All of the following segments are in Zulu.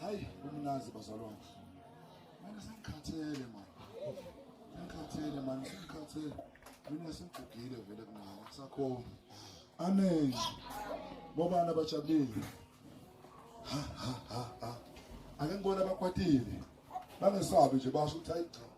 hayi umnazi bazalwane mina sengikhathele mani sengikhathele mani sengikhathele mina sengigugile vele kumama kusakhona amen bobani abajabulile ake ngibona abakwatile bangesabi nje basho ukuthi hayi cha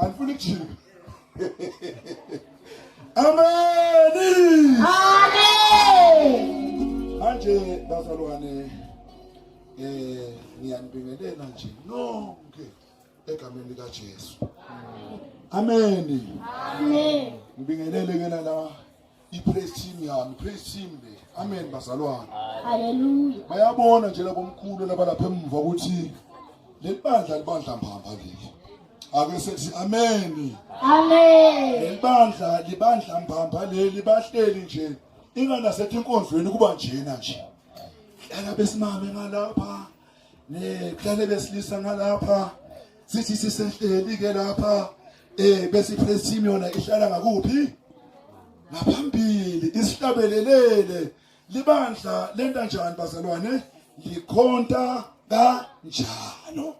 Alifuni kujika. Amen. Amen. Manje bazalwane eh ngiyanibingelela nje nonke egameni lika Jesu. Amen. Amen. Ngibingelele ke la i-praise team yami praise team le amen bazalwane haleluya bayabona nje labomkhulu labalapha emuva ukuthi leli bandla libandla mbamba leli ake sethi amen amen leli bandla libandla mbamba leli bahleli nje inganasethi inkonzweni kuba njena nje hlala besimame ngalapha Ngihlale besilisa ngalapha sithi sisehleli ke lapha eh besi presium yona ihlala ngakuphi? Ngaphambili isihlabelelele libandla lenta njani bazalwane? Likhonta kanjalo.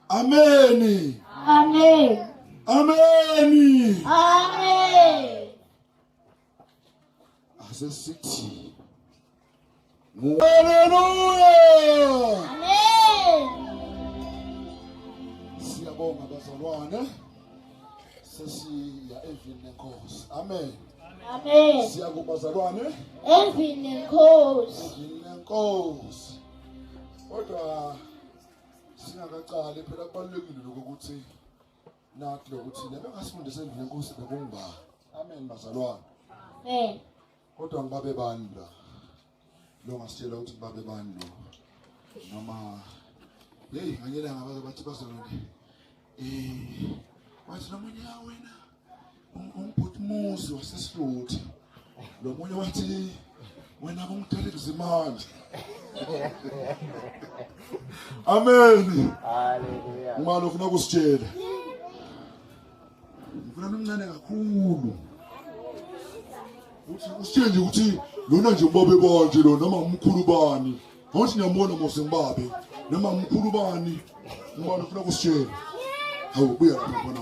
Ameni. Amen. Ameni. Amen. Asesithi. Haleluya! Amen. Siyabonga bazalwane. Sesiya evini lenkosi. Amen. Amen. Siya kubazalwane. Evini lenkosi. Evini lenkosi. Kodwa singakaqali phela kubalulekile ukuthi Nakho lokuthi lebe ngasifundisa endlini enkosi bekungiba. Amen bazalwane. Eh. Kodwa ngibabe bani la? Lo ngasitshela ukuthi babe bani lo. Noma hey nganyela ngabaze bathi bazalwane. Eh. Wathi nomunye wena umbhuti muzi wasesihluthi lo munye wathi wena kumdala kuzimana amen haleluya uma lokhu nokusitshela ngifuna nomncane kakhulu uthi usitshele nje ukuthi lona nje ubabe banje lo noma umkhulu bani ngothi ngiyambona mose ngibabe noma umkhulu bani uma lokhu nokusitshela hawu buya lapha khona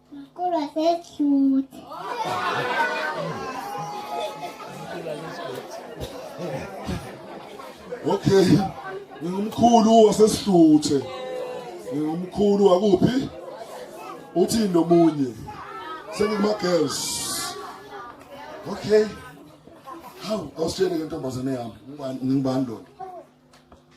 Mkulu waseSuthi. Okay. Ngingumkhulu waseSuthi. Ngingumkhulu wakuphi? Uthi nomunye. Sengikuma girls. Okay. Hawu, awusitshele ke ntombazane yami. Ngibani ngibani lona?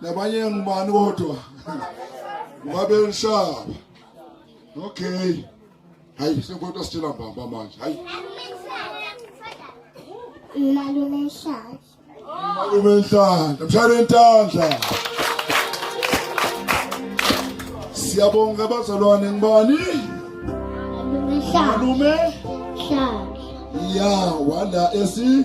nabanye ngibani kodwa ngabelishaba okay hayi sekodwa sitshela mbamba manje hayi malume nhlahla malume nhlahla mshayele ntandla siyabonga abazalwane ngibani malume nhlahla ya wala esi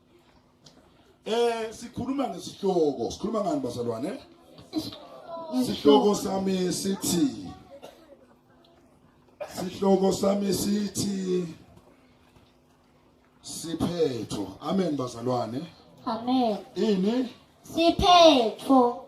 Eh sikhuluma ngesihloko, sikhuluma ngani bazalwane? Isihloko sami sithi Sihloko sami sithi siphetho. Amen bazalwane. Amen. Ini? Siphetho.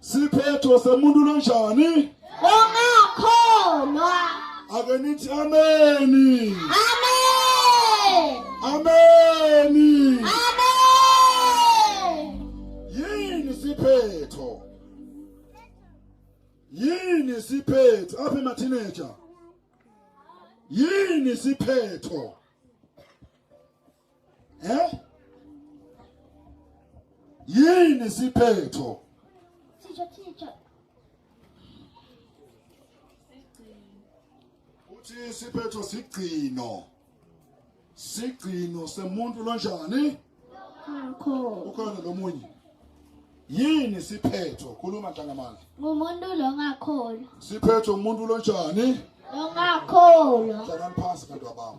siphetho semuntu lonjani ongakholwa ake nithi ameni amen ameni amen yini siphetho yini siphetho apha emateenager yini siphetho eh yini siphetho teacher teacher uthi siphetho sigcino sigcino semuntu lonjani ukhona lomunye yini siphetho khuluma ntangamandla ngumuntu lo ngakholwa siphetho umuntu lonjani lo ngakholwa hlalani phansi bantu abami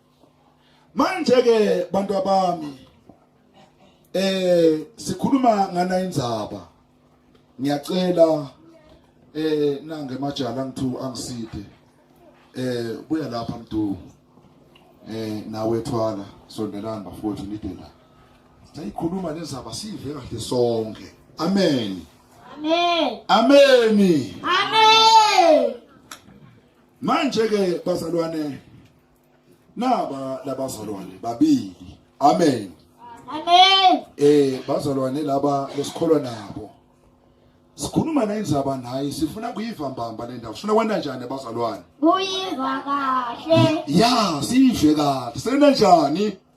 manje ke bantu abami eh sikhuluma ngana indzaba ngiyacela eh nange majala ngithu angiside eh buya lapha mdu eh nawe thwala sondelani bafowethu nidela sayikhuluma lezaba sive kahle sonke amen amen amen amen manje ke bazalwane naba labazalwane babili amen amen eh bazalwane laba lesikholwa nabo sikhuluma nayinzaba naye sifuna kuyiva mbamba le ndawo sifuna kwenda njani abazalwane kuyiva kahle ya sive kahle sena njani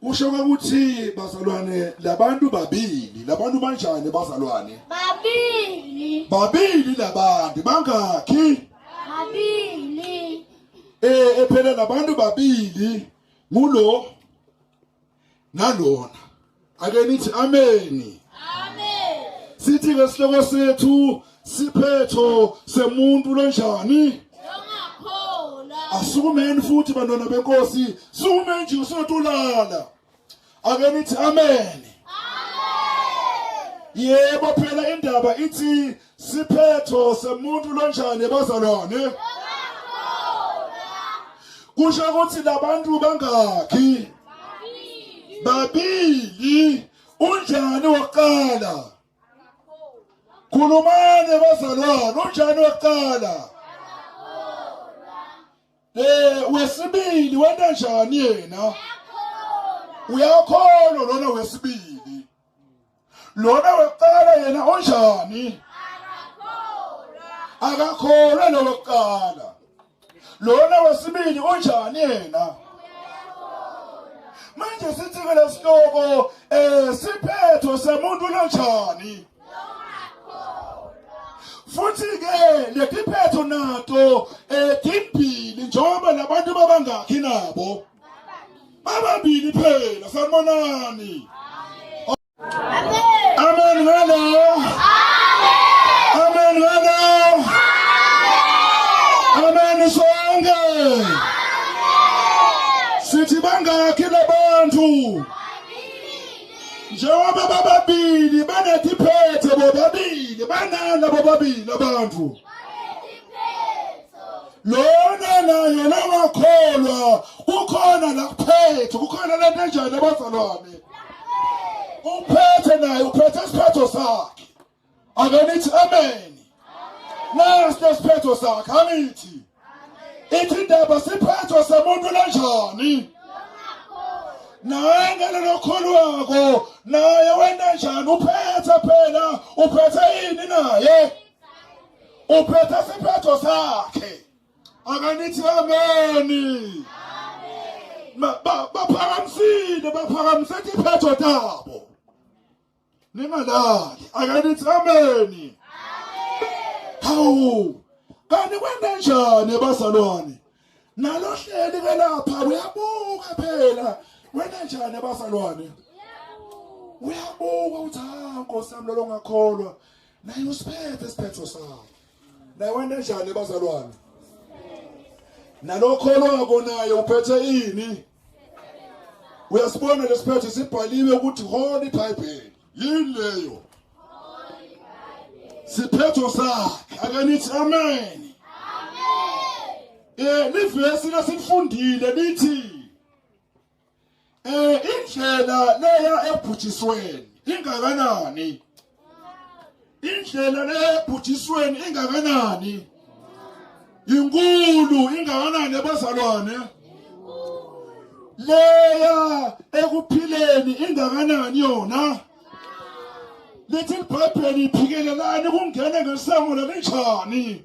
Kusho ukuthi bazalwane labantu babili, labantu banjani bazalwane? Babili. Babili labantu bangakhi? Babili. Eh ephela labantu babili ngulo nalona. Ake nithi ameni. Amen. Sithi ngesihloko sethu siphetho semuntu lonjani asukumeni futhi bantwana benkosi sukume nje usotulala ake nithi amen yebo phela indaba ithi siphetho semuntu lonjani bazalwane kusho ukuthi labantu bangakhi babili unjani waqala Khulumani bazalwane, unjani wekuqala? Eh wesibili wena njani yena? Uyakholwa lona wesibili. Lona wekuqala yena onjani? Akakholwa. Akakholwa lo wekuqala. lona wesibili unjani yena manje sithi ke lesihloko eh siphetho semuntu lonjani futhi ke letiphetho nato eh timbili njengoba labantu babangakhi nabo bababili phela sanibonani Amen ngalo. Amen ngalo. Amen sonke. Sithi bangakhi labantu? Njengoba bababili banethi phethe bobabili banala bobabili abantu. lona naye longakholwa kukhona la kuphethe kukhona lento enjani abazalwane uphethe naye uphethe isiphetho sakhe akanithi amen nasi nesiphetho sakhe angithi ithi indaba siphetho semuntu lenjani naye ngalelo khulu wako naye wena njani uphethe phela uphethe yini naye uphethe isiphetho sakhe akanithi ameni baphakamisile baphakamise isiphetho tabo ningalali akanithi ameni hawu kanti kwenda njani bazalwane nalohleli ke lapha uyabuka phela wena njani bazalwane uyabuka uthi ha nkosi yami lolongakholwa naye usiphethe isiphetho sakho naye wende njani bazalwane nalokho olwakonayo uphethe ini uyasibona lesiphetho sibhaliwe ukuthi holy bible yini leyo siphetho sakhe akanithi amen eh livesi lesifundile lithi eh indlela leya ebhujisweni ingakanani indlela leya ebhujisweni ingakanani inkulu ingakanani abazalwane leya ekuphileni ingakanani yona lithi libhayibheli iphikelelani kungene ngesango lalinjani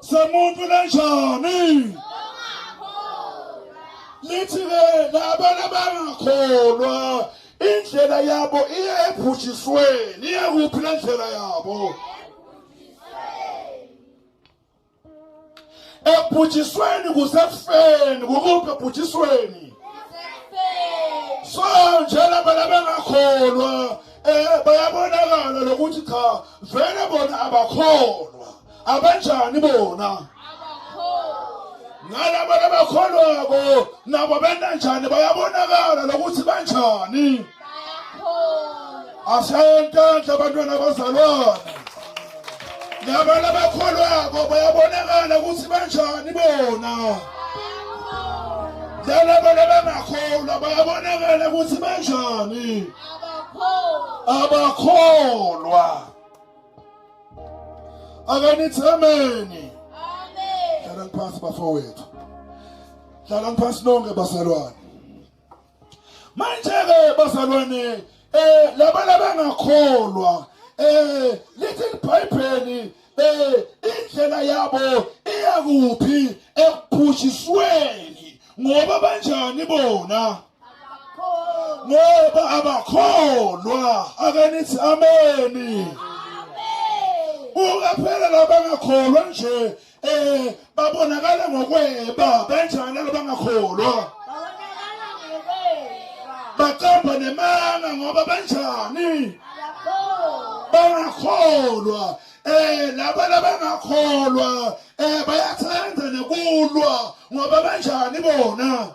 somuntu lenjani lithi ke labana bangakholwa indlela yabo iye ebhujisweni iye kuphi lendlela yabo ebhujisweni kusekufeni kukuphi ebhujisweni so njengoba labangakholwa eh bayabonakala lokuthi cha vele bona abakholwa abanjani bona nalabo labakholwako nabo benanjani bayabonakala lokuthi banjani asentandla abantwana abazalwana nabantu abakholwako bayabonakala ukuthi banjani bona nalabantu abangakholwa bayabonakala ukuthi banjani abakholwa akanithi ameni hlala ngiphansi bafowethu hlala ngiphansi nonke bazalwane manje-ke bazalwane um labana bangakholwa um lithi libhayibheli um indlela yabo iyakuphi ekuphutshisweni ngoba banjani bona ngoba abakholwa akanithi ameni ukaphelela bangakholwa nje Eh babonakala ngokweba banjani laba ngakholwa? Babonakala ngokweba. Baqamba nemanga ngoba banjani? Bangakholwa. Eh laba labangakholwa eh bayathanda nokulwa ngoba banjani bona?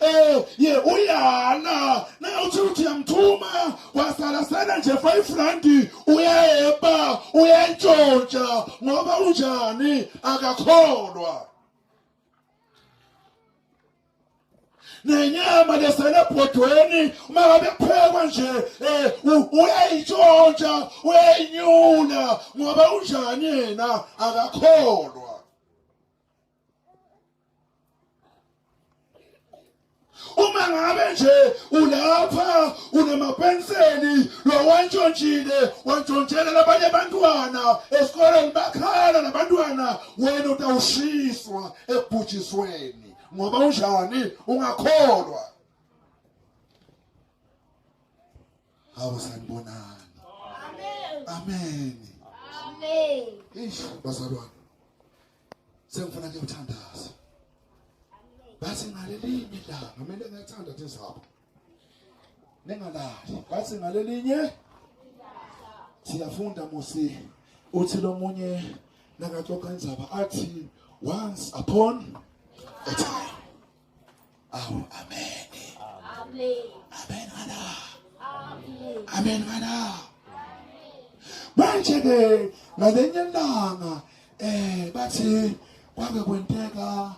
eh ye uyana na uthi uthi yamthuma wasala sana nje 5 rand uyayeba uyantshontsha ngoba unjani akakholwa nenyama leselebhodweni uma ngabe kuphekwa nje um uyayitshontsha uyayinyula ngoba unjani yena akakholwa uma ngabe nje ulapha unamapenseli lowantshontshile wantshontshela labanye abantwana esikoleni bakhala nabantwana wena utawushiswa ebhujisweni ngoba unjani ungakholwa Hawu sanibonani. Amen. Amen. Amen. Eish bazalwane. Sengifuna ke uthandaza. Bathi ngaleli midlalo kumele ngathanda tizabo. Ningalali. Bathi ngalelinye siyafunda musi uthi lomunye nakaxoxa inzaba athi once upon a time Awu amen. Amen. Amen ana. Amen. Amen ana. Manje ke ngalenye langa eh bathi kwake kwenteka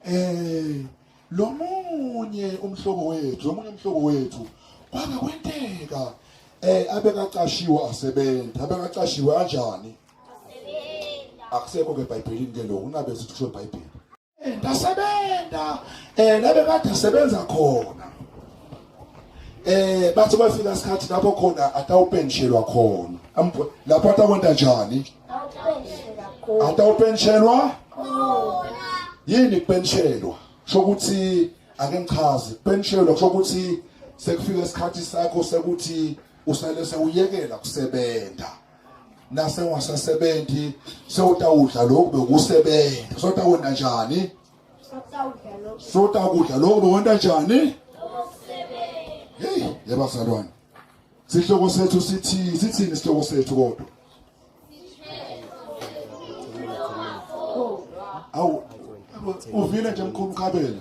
eh lomunye umhlobo wethu lomunye umhlobo wethu kwake kwenteka eh abekaqashiwe asebenza abekaqashiwe kanjani akusekho ke eBhayibhelini ke lokho ungabe sithi kusho eBhayibhelini ndasebenza eh labe kade sebenza khona eh bathi bafika isikhathi lapho khona atawupenshelwa khona lapho atakwenta njani atawupenshelwa yini kupenshelwa shokuthi ake ngichaze kupenshelwa shokuthi sekufika isikhathi sakho sekuthi usale sewuyekela kusebenza nase ungasasebenzi sewutawudla lokhu bekusebenza sotawona njani sotakudla lokhu bewona njani hey yabazalwane sihloko sethu sithi sithini sihloko sethu kodwa awu uvile nje mkhulu mkhabela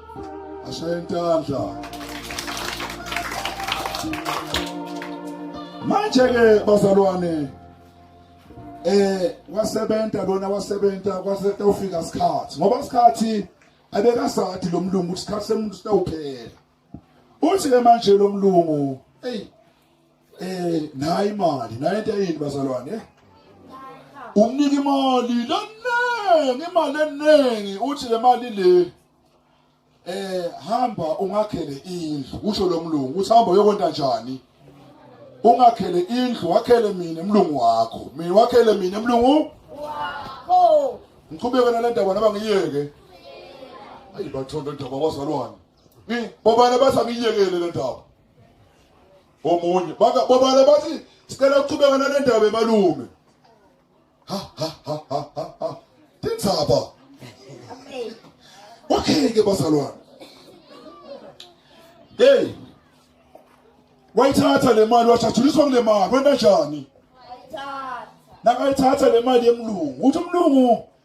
ashayentandla manje ke bazalwane eh wasebenza lona wasebenza kwaseta ufika isikhathi ngoba isikhathi abekasathi lo mlungu isikhathi semuntu sitawuphela uthi ke manje lo mlungu eyi eh nayi imali nayi into yini bazalwane eh? umnika imali leningi imali eningi uthi le mali le eh hamba ungakhele indlu kusho lo mlungu uthi hamba uyokwenta njani ungakhele indlu wakhele mina emlungu wakho mina wakhele mina emlungu wakho ngiqhubeke nale ndaba naba ngiyeke ayi bathondo ndaba kwazalwane bobana bathi angiyekele le ndaba omunye babala bathi sicela ukuqhubeka nale ndaba emalume ha ha ha ha ha tindzaba okay ke bazalwane hey wayithatha le mali wajathuliswa kule mali wenta njani nakayithatha le mali yemlungu uthi umlungu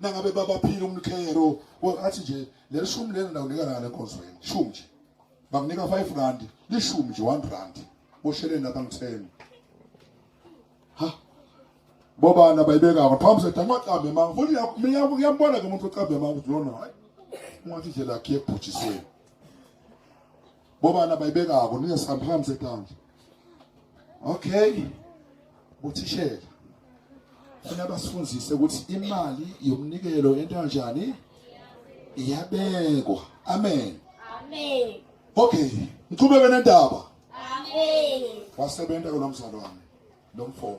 nangabe babaphile umkhero athi nje leli shumi lena ndawunika lana enkonzweni shumi nje bakunika 5 rand lishumi nje 1 rand bosheleni abangitheni ha bobani abayibekako phambi sethi amaqambe manga futhi uyambona ke umuntu oqambe manga ukuthi lona hayi ungathi nje lakhe ebhujisweni Bobani abayibekako ningesihambihlambi setandla. Okay. Uthishela. Funa basifundise ukuthi imali yomnikelo into kanjani? Iyabekwa. Amen. Amen. Okay, ngiqhubeke nendaba. Amen. Wasebenza kulomzalwane lomfo.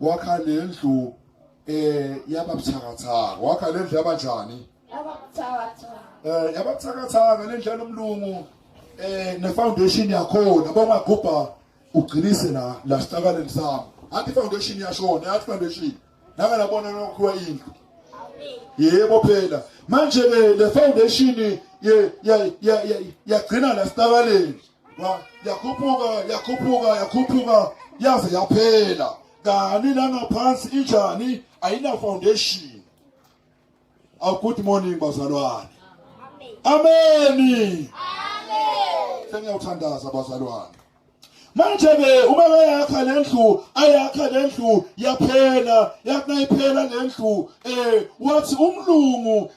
wakha lendlu eh yababuthakathaka wakha lendlu yabanjani ababuthakathaka eh yababuthakathaka lendlu yalomlungu eh ne foundation yakhona bongagubha ugcinise la la sihlakaleni sami athi foundation yashona athi foundation naka labona nokhiwa indlu yebo phela manje ke le foundation ye yagcina la sihlakaleni yakhuphuka yakhuphuka yakhuphuka yaze yaphela kani langaphansi injani ayina foundation aw good morning bazalwane ameni sengiyawuthandaza bazalwane manje ke uma bayakha lendlu ayakha lendlu yaphela yakunayiphela lendlu eh wathi umlungu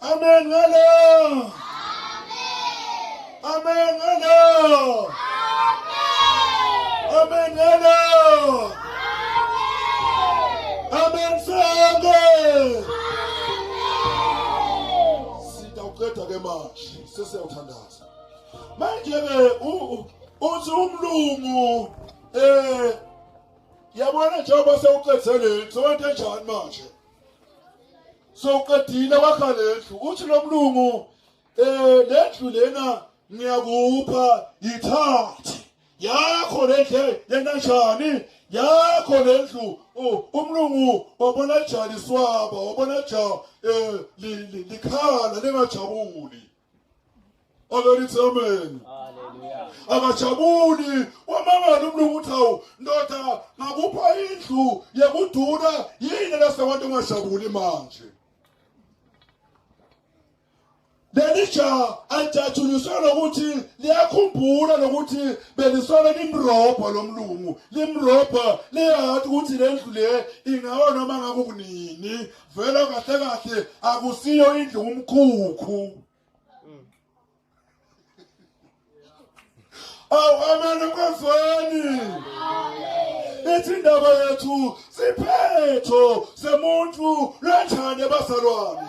Amen ngalo. Amen ngalo. Amen ngalo. Amen sonke. Sitawuqeda ke manje sesiyawuthandaza. Manje ke uthi umlungu eh yabona njengoba sewuqedze lento sowenze njani manje soqedile wakha lendlu uthi lo mlungu um lendlu lena ngiyakupha yithathe yakho lendle lena njani yakho lendlu umlungu wabona jali swaba wabona ja um likhala lingajabuli abelithi amen akajabuli wamangala umntu ukuthi awu ndoda ngakupha indlu yekuduna yini lasewantu ungajabuli manje leli ja alijatshuliswe lokuthi liyakhumbula lokuthi belisole limrobha lo mlungu limrobha liyazi ukuthi le ndlu le ingaba noma ngakukunini vele kahle kahle akusiyo indlu umkhukhu awu amen ukwezweni ithi indaba yethu siphetho semuntu lwenjani ebazalwane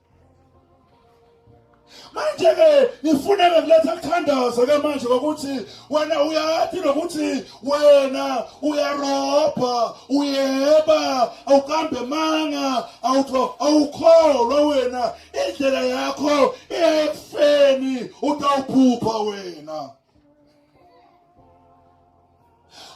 manje-ke ngifuneke kuletha kuthandaza ke manje kokuthi wena uyathi nokuthi wena uyarobha uyeba awukambe manga awukholwa wena indlela yakho iyekufeni utawuphupha wena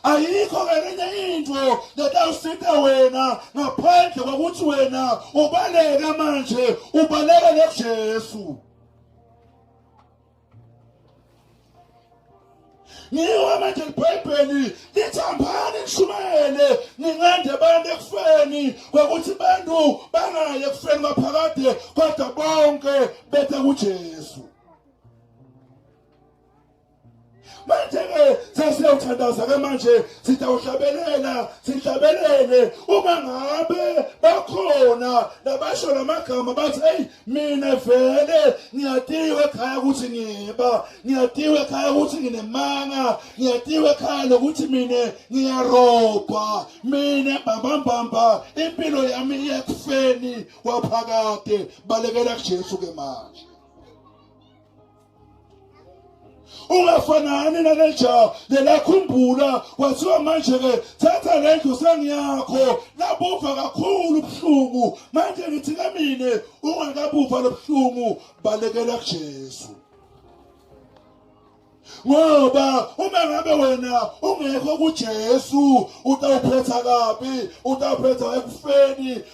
ayikho ngenye into letawusita wena ngaphandle kokuthi wena ubaleka manje ubaleka nekujesu ngiwa manje libhayibheli lithambani nishumayele ningande abantu ekufeni kwakuthi abantu bangayi ekufeni maphakade kodwa bonke bethe kujesu manje-ke sesiyawuthandaza-ke manje sitawuhlabelela sihlabelele uma ngabe bakhona nabasho la magama bathi eyi mina vele ngiyatiwe ekhaya ukuthi ngiba ngiyatiwe ekhaya ukuthi nginemanga ngiyatiwe ekhaya nokuthi mina ngiyarobha mina mbambambamba impilo yami iyekufeni kwaphakade balekela kujesu-ke manje ungafanani nale jaha lelakhumbula kwathiwa manje-ke thatha le ndlu sengiyakho labuva kakhulu ubuhlungu manje ngithi ke mina ungakabuva lo buhlungu balekela kujesu ngoba uma ngabe wena ungekho kujesu utawuphetha kabi utawuphetha ekufeni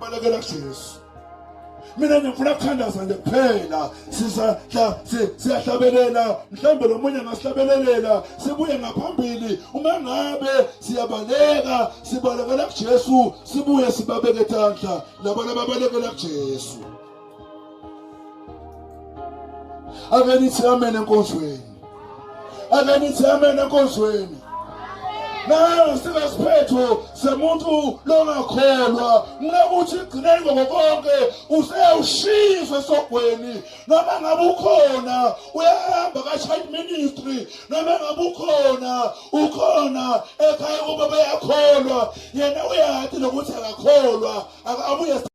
balekela Jesu mina ngifuna kuthandaza nje kuphela sizahla siyahlabelela mhlambe lo munye ngasihlabelelela sibuye ngaphambili uma ngabe siyabaleka sibalekela kuJesu sibuye sibabeke tandla labo lababalekela kuJesu ake nithi amen enkonzweni ake nithi amen enkonzweni nayo singasiphetho semuntu longakholwa mngakuthi igcineni ngokonke useyawushisa esogweni noma ngabe ukhona uyahamba ka-child ministry noma ngabe ukhona ukhona ekhaya kuba bayakholwa yena uyati nokuthi akakholwa akabuye